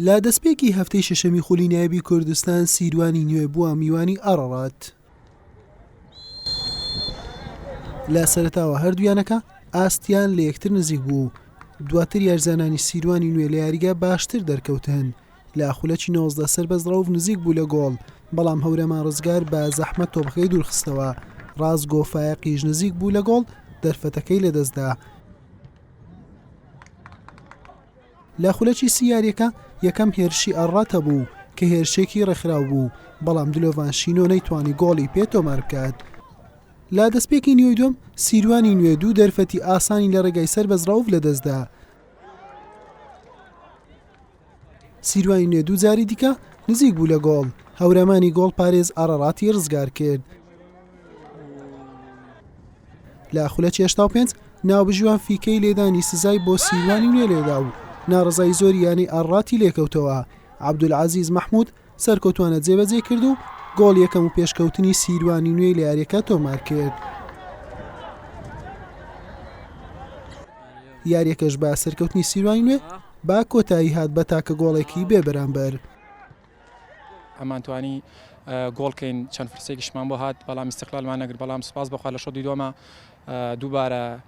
لە دەستپێکی هەفتەی شەشەمی خولی نایبی کوردستان سیروانی نوێ بووە میوانی ئەڕڕات لە سەرتاوە هەردویانەکە ئاستیان لە یەکتر نزیک بوو دواتر یارزانانی سیروانی نوێ لە یاریگە باشتر دەرکەوتن لە خولەکی 19 سەر بەس ڕەوف نزیک بوو لە گۆڵ بەڵام هەورەمان ڕزگار بە زەحمە تۆبخەی دوورخستەوە ڕاست گۆفاایە قیژ نزیک بوو لە گۆڵ دەرفەتەکەی لەدەستدا لە خولەکی سی یارییەکە یەکەم هێرشی ئاڕاتە بوو کە هێرشێکی ڕێکخراو بوو، بەڵام دلۆڤان شینۆ نەیتوانی گۆڵی پێ تۆمار بکات. لە دەستپێکی نیوەی دووەم سیروانی نوێ دوو دەرفەتی ئاسانی لە ڕێگای سەر بەز ڕەوف لەدەستدا. سیروانی نوێ دوو جاری دیکە نزیک بوو لە گۆڵ، هەورامانی گۆڵپارێز ئاراراتی ڕزگار کرد. لە خولە چێشتا و پێنج ناوبژیوان فیکەی لێدانی سزای بۆ سیروانی نوێ لێدا و ناڕزایی زۆری یانەی ئاڕاتی لێکەوتەوە عبدول عزیز محمود سەرکەوتوانە جێبەجێی کرد و گۆڵی یەکەم و پێشکەوتنی سیروانی نوێی لە یاریەکە تۆمار کرد. یاریەکەش بە سەرکەوتنی سیروانی نوێ با کۆتایی هات بە تاکە گۆڵێکی بێ بەرامبەر. ئەمان توانی گۆڵکەین چەند فرسێکیشمان بۆ هات بەڵام استقلالمان نەگر بەڵام سپاس بەخوا لە شەوتی دووەمە دووبارە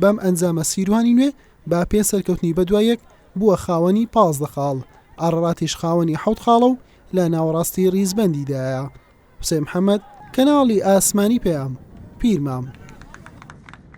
بەم ئەنجامە سیروانی نوێ بە پێنج سەرکەوتنی بەدوایەک بووە خاوەنی پازدە خاڵ، ئاراراتیش خاوەنی حەوت خاڵە و لە ناوەڕاستی ریزبەندیدایە. حوسێن محەمەد، کەناڵی ئاسمانی پەیام، پیرمام.